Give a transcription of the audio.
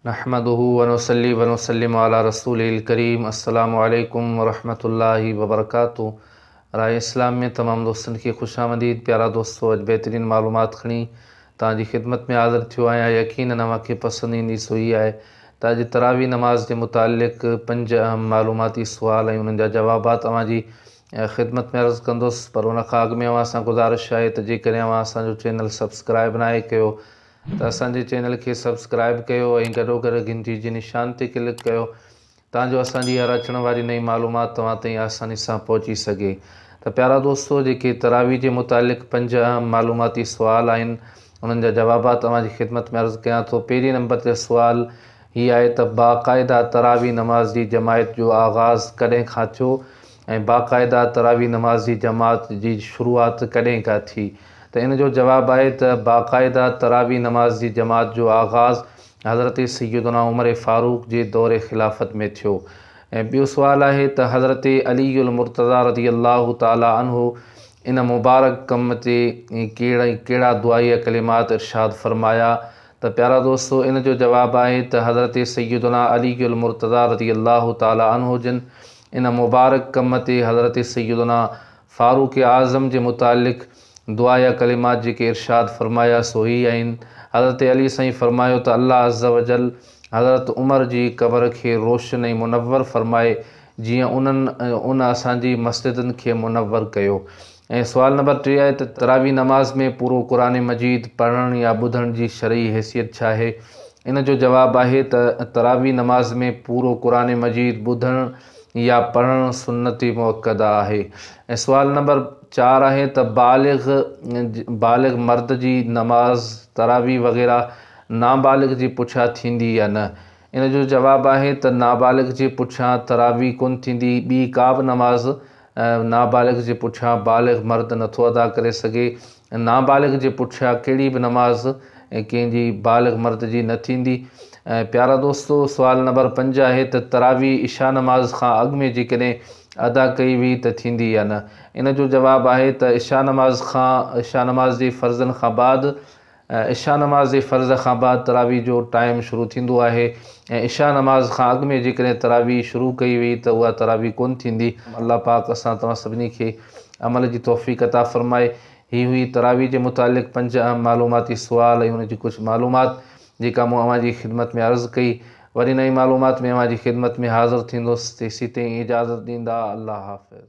نحمده ونصلي ونسلم علي رسوله الڪريم السلام عليڪم ورحمة الله وبرڪاته راء اسلام ۾ تمام دوستن کي خوش آمديد پيارا دوستو اڄ بهترين معلومات کڻي توهان جي خدمت ۾ حاضر ٿيو آهيان يقينن اوهان کي پسند ايندي سو هي آهي ته اڄ تراويح نماز جي متعلق پنج اهم معلوماتي سوال ۽ انهن جا جوابات اوهان جي خدمت ۾ عرض ڪندس پر ان کان اڳ ۾ اوهان سان گذارش آهي ته جيڪڏهن اوهان اسان جو چينل سبسڪرائب ناهي ڪيو ته اسان جي چينل کي سبسڪرائب ڪيو ۽ گڏوگڏ گهنٽي جي نشان تي ڪلڪ ڪيو تان جو اسان جي هر اچڻ واري نئين معلومات توهان تائين آساني سان پهچي سگهي ته پيارا دوستو جيڪي تراويح جي متعلق پنج اهم معلوماتي سوال آهن انهن جا جوابات اوهان جي خدمت ۾ عرض ڪيان ٿو پهرين نمبر تي سوال هي آهي ته باقاعده تراويح نماز جي جماعت جو آغاز ڪڏهن کان ٿيو ۽ باقاعده تراويح نماز جي جماعت جي شروعات ڪڏهن کان ٿي؟ ته ان جو جواب آهي ته باقاعده تراويح نماز جي جماعت جو آغاز حضرت سيدنا عمر فاروق جي دور خلافت ۾ ٿيو ۽ ٻيو سوال آهي ته حضرت علي المرتضيٰ رضي الله تعالٰي عنه ان مبارڪ ڪم تي ڪهڙا دعائيه ڪلمات ارشاد فرمايا ته پيارا دوستو ان جو جواب آهي ته حضرت سيدنا علي المرتضيٰ رضي الله تعالٰي عنه جن ان مبارڪ ڪم تي حضرت سيدنا فاروق اعظم جي متعلق دعا يا ڪلمات جيڪي ارشاد فرمايا سو هي آهن، حضرت علي سائين فرمايو ته الله عزّوجلّ حضرت عمر جي قبر کي روشن ۽ منور فرمائي جيئن انهن ان اسان جي مسجدن کي منور ڪيو ۽ سوال نمبر ٽي آهي ته تراويح نماز ۾ پورو قرآن مجيد پڙهڻ يا ٻڌڻ جي شرعي حيثيت ڇا آهي؟ ان جو جواب آهي ته تراويح نماز ۾ پورو قرآن مجيد ٻڌڻ يا پڙهڻ سنت مؤڪده آهي ۽ سوال نمبر چار آهي ته بالغ بالغ مرد جي نماز تراويح وغيره نابالغ جي پٺيان ٿيندي يا نه؟ ان جو جواب آهي ته نابالغ جي پٺيان تراويح ڪونه ٿيندي ٻي ڪا به نماز نابالغ جي پٺيان بالغ مرد نٿو ادا ڪري سگهي ۽ نابالغ جي پٺيان ڪهڙي به نماز ڪنهن جي بالغ مرد جي نه ٿيندي ۽ پيارا دوستو سوال نمبر پنج آهي ته تراويح عشا نماز کان اڳ ۾ جيڪڏهن ادا ڪئي وئي ته ٿيندي يا نه ان جو جواب آهي ته عشا نماز کان عشا نماز جي فرضن کان بعد عشاء نماز جي فرض کان بعد تراويح جو ٽائيم شروع ٿيندو آهي ۽ عشاء نماز کان اڳ ۾ جيڪڏهن تراويح شروع ڪئي وئي ته اها تراويح ڪونه ٿيندي. الله پاڪ اسان توهان سڀني کي عمل جي توفيق عطا فرمائي. هي هئي تراويح جي متعلق پنج اهم معلوماتي سوال ۽ ان جي ڪجهه معلومات جيڪا مون اوهان جي خدمت ۾ عرض ڪئي. وري نئين معلومات ۾ اوهان جي خدمت ۾ حاضر ٿيندس. تيسيتائين اجازت ڏيندا. الله حافظ.